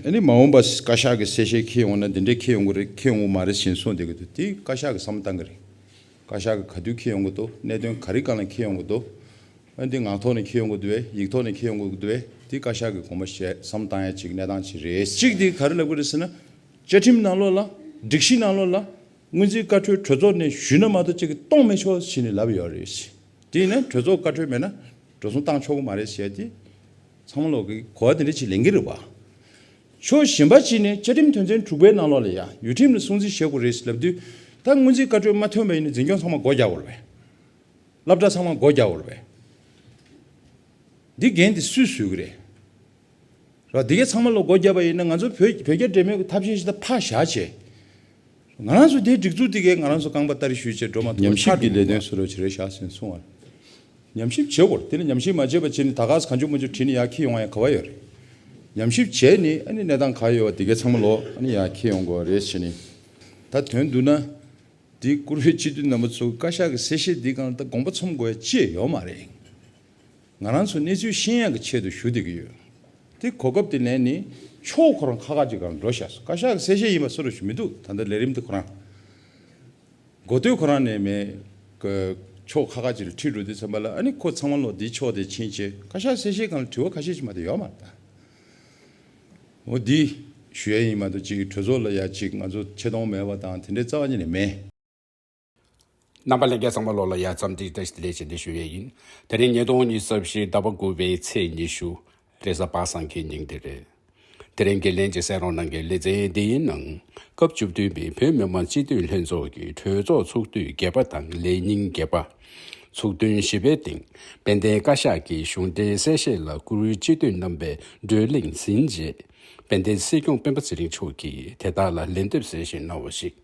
ཨ་ནི་མ་འོངས་པ་བཀའ་ཤག་གི་གསལ་བཤད་འཁེལ་ཡོང་ན་འདི་འདྲས་འཁེལ་ཡོང་གི་རེད་འཁེལ་ཡོང་གི་མ་རེད་ཞེས་གསུངས་བསྡད་ཀྱི་འདུག་དེ་བཀའ་ཤག་གི་བསམ་བློ་བཏང་གི་རེད། བཀའ་ཤག་གི་ག་དུས་འཁེལ་ཡོང་གི་འདུག་གནད་དོན་ག་རིགས་གང་ལ་འཁེལ་ཡོང་གི་འདུག་ཨ་འདི་ངག་ཐོག་ནས་འཁེལ་ཡོང་གི་འདུག་བས་ཡིག་ཐོག་ནས་འཁེལ་ཡོང་གི་འདུག་བས་དེ་བཀའ་ཤག་གི་དགོངས་པ་བཞེས་བསམ་བཏང་ཡ་གཅིག་གནས་སྟངས་ཅི་རེད། གཅིག་དེ་ག་རེ་ལབ་ཀྱི་རེད་ཟེར་ན། བཅའ་ཁྲིམས་ནང་ལོགས་ལ། སྒྲིག་གཞི་ནང་ལོགས་ལ། སྔོན་རྩིས་བཀའ་འཁྲོལ་གྲོས་ཚོགས་ནས་ཞུས་ན་མ་གཏོགས་ཅི་གི་གཏོང་མི་ཆོག་ཞེས་ནས་ལབ་ཡོད་རེད། དེ་ཡིན་ན་གྲོས་ཚོགས་བཀའ་འཁྲོལ་མེད་ན། འགྲོ་སོང་བཏང་ཆོག་གི་མ་རེད་ཞེས་ཡ་དེ། ཚང་མ་ལོག་གི་གོ་བ་དེ་འདྲ་ཅིག་ལེན་གྱི་རེད་བ། ཕྱོགས་གཞན་པ་ཅིག་ནས་བཅའ་ཁྲིམས་དོན་ཚན་དྲུག་པའི་ནང་ལོག་ལ་ཡ་ཡུ་ཁྲིམས་ལ་སྲུང་བརྩི་བྱེད་དགོས་རེད་ལབ་དུས་ད་སྔོན་ཚིག་བཀའ་འཁྲོལ་མ་ཐོན་པ་ཡིན་ན་འཛིན་སྐྱོང་ཚང་མ་སྒོ་རྒྱག་བར་བས། སླབ་གྲྭ་ཚང་མ་སྒོ་རྒྱག་བར་བས། འདི་འགན་དེ་སུས་བཟོས་གི་རེད། ར་འདི་གས་ཚང་མ་ལོག་སྒོ་རྒྱབ་པ་ཡིན་ན་ང་ཚོ་བོད་བོད་རྒྱ་འདྲེས་མའི་ཐབས་ཤེས་ཤི་ད་ཕ་བཞག་བྱས། ང་རང་ཚོས་དེའི་སྒྲིག་འཛུགས་དེ་གས་ང་རང་ཚོ་རྐང་པ་བསྟར་ཞུས་བྱས་འགྲོ་མ་ཐུབ་པར་ཆགས་འགྲིག་གནང་བ། ཉམས་ཞིབ་ཀྱི་ལས་དོན་སུ་རོལ་བྱེད་རེད་བཞག་ཟིན་སོང་བ། ཉམས་ཞིབ་བྱེད་དགོས་རེད་དེ་ནི་ཉམས་ཞིབ་མ་བྱས་པ་བྱས་ནི་ད་གགས་སུ་གང་བྱུང་མ་བྱུང་བྲིས་ནི་ཡག་ཁྱི་ཡོང་བ་ཡང་ག་བ་ཡོད་རེད། ཉམས་ཞིབ་བྱས་ནི་ཨ་ནི་གནས་སྟངས་ག་ཡོད་བ་དེ་གས་ཚང་མ་ལོག་ཨ་ནི་ཡག་ཁྱི་ཡོང་དགོས་བ་རེད་བྱས་ནི། ད་དོན་བསྡུ་ན། འདི་བཀུར་འོས་སྤྱི་འཐུས་རྣམ་པ་ཚོ་བཀའ་ཤག་གི་གསལ་བཤད་འདི་གང་ལྟ་དགོངས་པ་ཚོམས་དགོས་ཡ་ཅི་ཡོད་མ་རེད། ང་རང་ཚོ་གནས་ཚུལ་ཤེས་ཡག་གི་ཆེད་དུ་ཞུ་བསྡད་ཀྱི་ཡོད་དེ། གོ་སྐབས་དེ་ལེན་ནི་ཆོག་ཁོ་རང་ཁ་ཁ་ཅིག་ག་རང་འགྲོ་བཞག་སོང་བཀའ་ཤག་གི་གསལ་བཤད་ཡིན་པ་སུ་རང་ཞུ་མི་འདུག་ད་ལྟ་ལས་རིམ་དེ་ཁོ་རང་མགོ་སྟོད་ཁོ་རང་ནས་མེད་གི་ཆོག་ཁ་ཁ་ཅིག་ལ་ཁྲིད་འགྲོ་དུས་ཚང་པ་ལ་ཨ་ནི་ཁོ་ཚང་མ་ལོ་འདི་ཕྱོགས་དེ་ཕྱིན་ཆད་བཀའ་ཤག་གསལ་བཤད་ཁང་ལ་དྲི་བ་ཁ་ཤས་ཅིག་མ་གཏོགས་ཡོད་མ་རེད། འོ་འདི་ཞུ་ཡ་ཡིན་མ་གཏོགས་ཅིག་གྲོས་ཚོགས་ལ་ཡ་ཅིག་ང་ཚོ་ཆེ་མཐོང་མེད་པ་དང་དེ་འདྲའི་རྩ་བ་ཉིད་ནས་མེད། རྣམ་པ་ལན་བརྒྱ་ཚང་མ་ལོ་ལ་ཡར་རྩམ་སྒྲིག་བསྟར་ལས་བྱེད་འདི་ཞུ་ཡས་ཡིན། དེ་རིང་ཉིས་སྟོང་ཉིས་བརྩབ་ཞིག་ཟླ་བ་དགུ་བའི་ཚེས་ཉི་ཤུ། རེས་གཟའ་པ་སངས་ཀྱི་ཉིན་དེ་རེད། དེ་རིང་འགན་ལེན་གྱི་སེང་རོང་ནང་གི་ལེ་ཚན་འདིའི་ནང། སྐབས་བཅུ་བདུན་པའི་བོད་མི་མང་སྤྱི་འཐུས་ལྷན་ཚོགས་ཀྱི་གྲོས་ཚོགས་ཚོགས་དུས་བརྒྱད་པ་དང་ལས་ཉིན་བརྒྱད་པ། ཚོགས་ཐུན་བཞི་པའི་སྟེང་དཔལ་ལྡན་བཀའ་ཤག་གི་གཞུང་འབྲེལ་གསལ་བཤད་ལ་བཀུར་འོས་སྤྱི་འཐུས་རྣམ་པས་བགྲོས་གླེང་ཟིན་རྗེས། དཔལ་ལྡན་སྲིད་སྐྱོང་སྤེན་པ་ཚེ་རིང་མཆོག་གིས་དེ་དག་ལ་ལན་འདེབས་གསལ་བཤད་གནང་བ་ཞིག།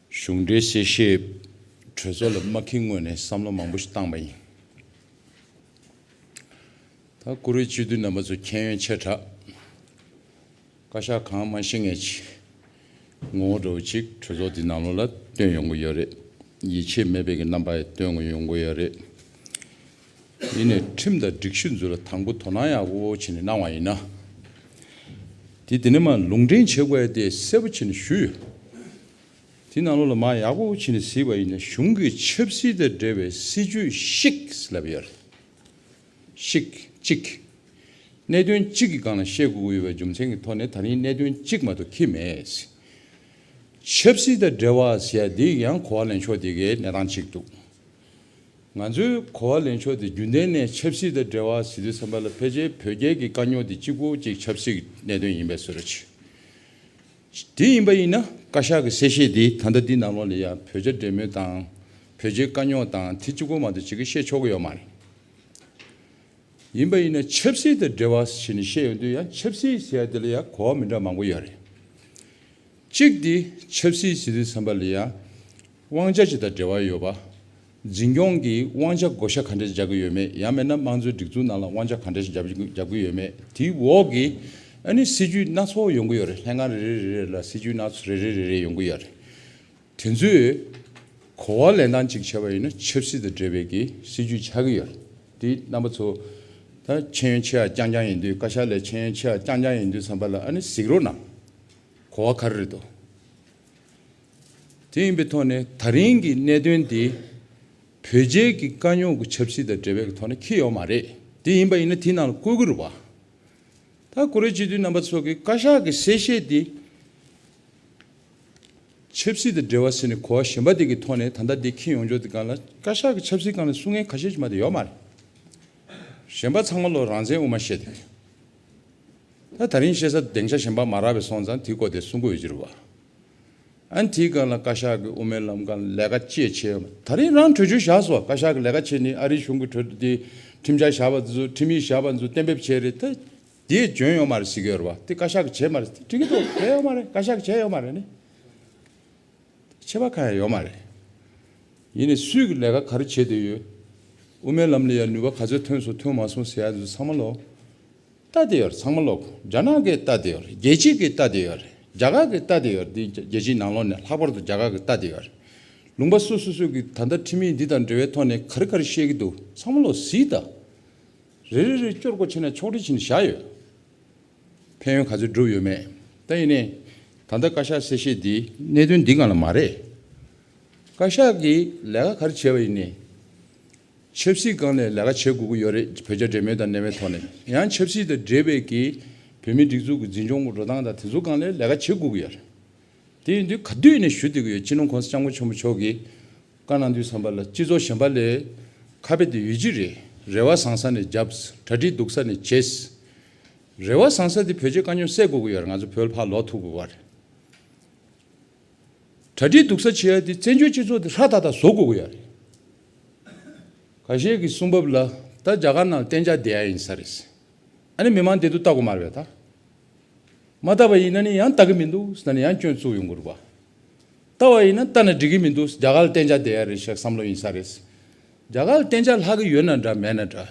གཞུང་འབྲེལ་གསལ་བཤད་གྲོས་ཚོགས་ལ་མ་ཁེངས་སྔོན་ནས་བསམ་བློ་མང་པོ་ཞིག་བཏང་པ་ཡིན། ད་བཀུར་འོས་སྤྱི་འཐུས་རྣམ་པ་ཚོ་མཁྱེན་ཡོན་ཆེ་དྲགས། བཀའ་ཤག་གང་མང་ཤི་ངེས་ཀྱི་ངོ་བོ་འདྲ་བོ་ཅིག་གྲོས་ཚོགས་འདིའི་ནང་ལོགས་ལ་བཏོན་ཡོང་གི་ཡོད་རེད། ཡིད་ཆེས་མེད་པའི་གི་རྣམ་པ་ཡང་བཏོན་ཡོང་གི་ཡོད་རེད། ཡིན་ནས་ཁྲིམས་དང་སྒྲིག་གཞི་འཛུགས་ལ་དང་པོ་དོ་སྣང་ཡག་པོ་བྱས་ནས་གནང་བ་ཡིན་ན། དེ་དེ་ནས་མ་ལུང་འདྲེན་བྱེད་དགོས་ཡ་དེ་གསལ་པོ་བྱས་ནས་ཞུས་ཡོད། དེ་ནང་ལོགས་ལ་མ་ཡག་པོ་བྱས་ནས་གཟིགས་པ་ཡིན་ན་གཞུང་གི་ཆབ་སྲིད་དང་འབྲེལ་བའི་སྲིད་ཇུས་ཤིག་ལབ་ཡོད་རེད། ཤིག་གཅིག། གནད་དོན་གཅིག་གི་སྒང་ལ་བཤད་དགོས་ཡོད་པའི་རྒྱུ་མཚན་གྱི་ཐོག་ནས་ད་རིང་གནད་དོན་གཅིག་མ་གཏོགས་ཁེལ་མེད། ཆབ་སྲིད་དང་འབྲེལ་བ་ཟེར་ཡ་དེ་ཡང་གོ་བ་ལེན་ཕྱོགས་དེ་གའི་གནས་སྟངས་གཅིག་འདུག་ང་ཚོས་གོ་བ་ལེན་ཕྱོགས་དེ་རྒྱུན་ལྡན་ནས་ཆབ་སྲིད་དང་འབྲེལ་བ་ཟིན་དུས་བསམ་པ་ལ་ཕལ་ཆེར་བོད་རྒྱལ་གྱི་དཀའ་རྙོག་དེ་གཅིག་པོ་གཅིག་ཆབ་སྲིད་ཀྱི་གནད་དོན་ཡིན་པའི་བཟོ་རེ་བྱེད། དེ་ཡིན་པ་ཡིན་ན་བཀའ་ཤག་གི་གསལ་བཤད་དེ་ད་ལྟ་འདི་ནང་ལོགས་ལས་ཡང་བོད་རྒྱ་འབྲེལ་མོལ་དང་བོད་རྒྱའི་དཀའ་རྙོག་དང་དེ་གཅིག་པོ་མ་གཏོགས་ཅི་གི་བཤད་ཆོག་གི་ཡོད་མ་རེད། ཡིན་པ་ཡིན་ན་ཆབ་སྲིད་དང་འབྲེལ་བ་ཟེར་ནས་བཤད་ཡོང་དུས་ཡང་ཆབ་སྲིད་ཟེར་ཡ་དེ་ལ་ཡང་གོ་བ་མི་འདྲ་མང་པོ་ཡོད་རེད། གཅིག་དེ་ཆབ་སྲིད་ཟིན་དུས་བསམ་པ་ལ་ཡང། དབང་ཆ་ཅི་དང་འབྲེལ་བ་ཡོད་པ། འཛིན་སྐྱོང་གིས་དབང་ཆ་བགོ་བཤའ་ག་འདྲས་རྒྱག་གི་ཡོད་མེད་ཡང་མེད་ན་དམངས་གཙོའི་སྒྲིག་འཛུགས་ནང་ལ་དབང་ཆ་ག་འདྲས་ཞིག་རྒྱག་གི་ཡོད་མེད་དེའི་འོག་གི་ཨ་ནི་སྲིད་ཇུས་སྣ་ཚོགས་ཡོང་གི་ཡོད་རེད་ལྷན་ཁང་རེ་རེ་རེ་རེ་ལ་སྲིད་ཇུས་སྣ་རེ་རེ་རེ་རེ་ཡོང་གི་ཡོད་རེད། དེ་ཚོས་གོ་བ་ལེན་སྟངས་གཅིག་བྱས་པ་ཡིན་ན་ཆབ་སྲིད་དང་འབྲེལ་བའི་གི་སྲིད་ཇུས་ཆགས་ཀྱི་ཡོད་རེད་དེ་རྣམ་པ་ཚོ་ད་ཆེན་ཡོན་ཆེ་ཡ་རྐྱང་རྐྱང་ཡིན་དུས་བཀའ་ཤག་ལས་ཆེན་ཡོན་ཆེ་ཡ་རྐྱང་རྐྱང་ཡིན་དུས་ཚང་པ་ལ་ཨ་ནི་གཟིགས་རོགས་གནང་གོ་བ་ག་རེ་རེད་དོ་དེ་ཡིན་པའི་ཐོག་ནས་ད་རིང་གི་གནད་དོན་དེ་བོད་རྒྱལ་གྱི་དཀའ་རྙོག་གི་ཆབ་སྲིད་དང་འབྲེལ་བའི་ཐོག་ནས་འཁེལ་ཡོད་མ་རེད། དེ་ཡིན་པ་ཡིན་ན་དེའི་ནང་ལ་བཀོད་དགོས་རུང་བ། ད་ཀོ་རེ་སྤྱི་འཐུས་རྣམ་པ་ཚོ་གིས་བཀའ་ཤག་གི་གསལ་བཤད་དེ། ཆབ་སྲིད་དང་འབྲེལ་བ་ཟེར་ནས་གོ་བ་གཞན་པ་དེ་གི་ཐོག་ནས་ད་ལྟ་དེ་འཁེལ་ཡོང་ཆོག་དེ་གང་ལ་བཀའ་ཤག་གི་ཆབ་སྲིད་གང་ལ་སུ་ངན་ག་ཤེད་ཅིག་མ་དེ་ཡོད་མ་རེད། གཞན་པ་ཚང་མ་ལོ་རང་བཙན་དབུ་མ་བཤད་དེ། ད་ད་རིང་བཤད་ས་དེང་ཆ་གཞན་པ་མ་རག་པས་སོང་ཙང་དེའི་སྐོར་དེ་གསུང་གོ་ཡོད་ཅི་རུ་བ། ཨན་དེའི་སྐབས་ལ་བཀའ་ཤག་གི་དབུ་མའི་ལམ་ཁ་ལས་ཀ་ཅེས་བྱས་ཡོད། ད་རིང་རང་གྲོས་ཆོད་བཞག་སོང་བ་བཀའ་ཤག་གི་ལས་ཀ་ཆེ་ནི་ཨ་རིའི་གཞུང་གི་གྲོས་དེ་ཁྲིམས་འཆར་བཞག་པ་ཚོ་ཁྲིམས་ཡིག་བཞག་པ་ཚོ་གཏན་འབེབས་བྱས་རེད་ད། དེས་འཇོན་ཡོང་མ་རེད་ཟེར་གི་ཡོད་རེད་བ་དེ་བཀའ་ཤག་གིས་བྱས་མ་རེད་དེ་འགྲིག་གི་འདུག་བས་ཡོང་མ་རེད་བཀའ་ཤག་གིས་བྱས་ཡོང་མ་རེད་ནི། ཆད་པ་གང་ཡང་ཡོད་མ་རེད། ཡིན་ནས་སུས་ཀྱི་ལས་ཀ་ག་རེ་བྱེད་འདོད་ཡོད། དབུ་མའི་ལམ་ལས་ཡར་ནུས་པ་ག་ཚོད་ཐོན་སོང་ཐོན་མ་སོང་ཟེར་ཡ་འདི་ཚོ་ཚང་མ་ལོག་སྟ་དེ་ཡོད་རེད་ཚང་མ་ལོག་རྒྱ་ནག་གི་སྟ་དེ་ཡོད་རེད་རྒྱལ་སྤྱི་གི་སྟ་དེ་ཡོད་རེད་རྒྱ་གར་གི་སྟ་དེ་ཡོད་རེད་འདི་རྒྱལ་སྤྱིའི་ནང་ལོག་ནས་ལྷག་པར་དུ་རྒྱ་གར་གི་སྟ་དེ་ཡོད་རེད་ལུང་པ་སོ་སོ་སོས་ཀྱི་ད་ལྟ་ཁྲིམས་ཡིག་འདི་དང་འབྲེལ་བའི་ཐོག་ནས་ག་རེ་ག་རེ་བཤད་ཀྱི་འདུག་ཚང་མ་ལོག་ཟིག་ད། རེ་རེ་རེ་སྐྱོར་སྒོ་ཕྱེ་ན་ཕྱོགས་སྒྲིག་བྱེད་ནས་བཞག་ཡོད། ཕན་ཡོན་ག་ཚོད་བསྒྲུབས་ཡོད་མེད་ད་ཡིན་ནའི། ད་ལྟ་བཀའ་ཤག་གསལ་བཤད་འདིས་གནད་དོན་འདི་གང་ལ་མ་རེད། བཀའ་ཤག་གིས་ལས་ཀ་ག་རེ་བྱས་པ་ཡིན་ནའི། ཆབ་སྲིད་སྒང་ནས་ལས་ཀ་བྱེད་དགོས་ཀྱི་ཡོད་རེད་བོད་རྒྱ་འབྲེལ་མོལ་དང་ནན་བའི་ཐོག་ནས་ཡང་ཆབ་སྲིད་དང་འབྲེལ་བའི་གི་བོད་མིའི་སྒྲིག་འཛུགས་ཀྱི་འཛིན་སྐྱོང་གི་འགྲོ་སྟངས་དང་དེ་ཚོ་སྒང་ལས་ལས་ཀ་བྱེད་དགོས་ཀྱི་ཡོད་རེད། དེ་ཡིན་དུས་ག་དུས་ནས་ཞུ་འདོད་ཀྱི་ཡོད་སྤྱི་ནོར་ཁོང་ས་སྐྱབས་མགོན་ཆེན་པོ་མཆོག་གིས། བཀའ་གནང་དུས་བསམ་པ་ལ་སྤྱི་ཚོགས་ཞན་པ་ལས། ཁ་དཔེ་དེ་ཡོད་ཀྱི་རེད། རེ་བ་བཟང་ས་ནས་བརྒྱབས། གྲ་སྒྲིག་སྡུག་ས་ནས་བྱས། རེ་བ་བཟང་ས་དེ་བོད་ཆས་དཀའ་རྙོག་སེལ་དགོས་ཀྱི་ཡོད་རེད་ང་ཚོ་བོད་ཕར་ལོག་ཐུབ་དགོས་པ་རེད། གྲ་སྒྲིག་སྡུག་ས་བྱས་ཏེ་བཙན་བྱོལ་སྤྱི་ཚོགས་དེ་ཧྲ་ཐག་ཐག་བཟོ་དགོས་ཀྱི་ཡོད་རེད། ག་ཤེད་ཀྱི་གསུང་བབ་ལ་ད་རྒྱ་གར་ནང་གཏན་འཇགས་བསྡད་ཡ་ཡིན་ས་རེད། ཨ་ནི་མི་མང་འདི་དུ་ལྟ་དགོས་མ་རེད་ད། མ་ལྟ་བ་ཡིན་ན་ནི་ཡང་ལྟ་གི་མི་འདུག་ས་ནི་ཡང་སྐྱོན་བཙུགས་ཡོང་གི་རུག་པ། ལྟ་བ་ཡིན་ན་ལྟ་ན་འགྲིག་གི་མི་འདུག་རྒྱ་གར་བསྟན་བྱ་བསྡད་ཡ་རེད་ཞེས་བསམ་བློ་ཡིན་ས་རེད། རྒྱ་གར་བསྟན་བྱ་ལྷག་གི་ཡོད་ན་འདྲ་མེད་ན་འདྲ།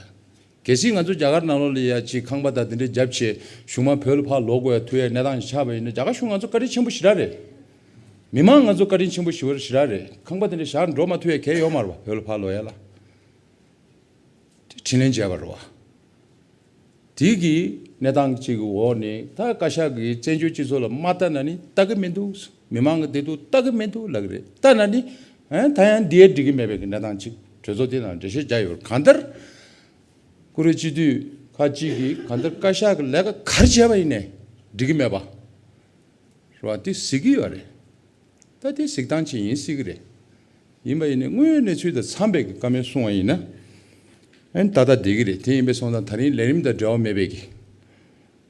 གལ་སྲིད་ང་ཚོ་རྒྱ་གར་ནང་ལོགས་ལས་ཡ་གཅིག་ཁང་པ་དང་དེ་འདྲའི་རྒྱབ་ཆེ་གཞུང་མ་བོད་ལ་ཕར་ལོག་དགོས་ཡ་ཐུག་ཡའི་གནས་སྟངས་ཞིག་ཆགས་པ་ཡིན་ན་རྒྱ་གར་གཞུང་ང་ཚོ་བཀའ་དྲིན་ཆེན་པོ་ཞི་རག་རེད། མི་མང་ང་ཚོ་བཀའ་དྲིན་ཆེན་པོ་ཞི་བར་ཞི་རག་རེད་ཁང་པ་དེ་འདྲ་བཞག་འགྲོ་མ་ཐུག་ཡའི་གལ་ཡོག་མ་རུ་བ་བོད་ལ་ཕར་ལོག་ཡ་ལ་དྲིན་ལན་འཇལ་བ་རུ་བ། དུས་ཀྱི་གནས་སྟངས་ཅིག་གི་འོག་ནས་ད་བཀའ་ཤག་གིས་བཙན་བྱོལ་སྤྱི་ཚོགས་ལ་མ་ལྟ་ན་ནི་ལྟ་གི་མི་འདུག་མི་མང་གི་བདེ་སྡུག་ལྟ་གི་མི་འདུག་ལབ་གི་རེད་ལྟ་ན་ནི་ད་ཡང་འདིའི་འགྲིག་གི་མེད་པའི་གི་གནས་སྟངས་ཅིག་གྲོས་ཚོགས་འདི་ནང་འགྲེལ་བཤད་རྒྱག་ཡོད་པར་གང་ལྟར་ཀུ་རེ་སྤྱི་འཐུས་ཁག་ཅིག་གིས་གང་ལྟར་བཀའ་ཤག་གི་ལས་ཀ་ག་རེ་བྱས་པ་ཡིན་ནས་འགྲིག་གི་མེད་པ་རེད་པ་འདི་གཟིགས་ཀྱི་ཡོད་རེད། ད་ལྟའི་གཟིགས་སྟངས་ཅན་ཡིན་སྲིད་གི་རེད། ཡིན་པ་ཡིན་ནས་དངོས་ཡོད་གནས་ཚུལ་དང་འཚམས་པའི་ཀ་མེད་གསུང་བ་ཡིན་ན། ད་ལྟ་བསྡད་ཀྱི་རེད་དེ་ཡིན་པའི་སོང་ཙང་ད་རིང་ལས་རིམ་དང་འབྲེལ་བ་མེད་པས་ཀྱི།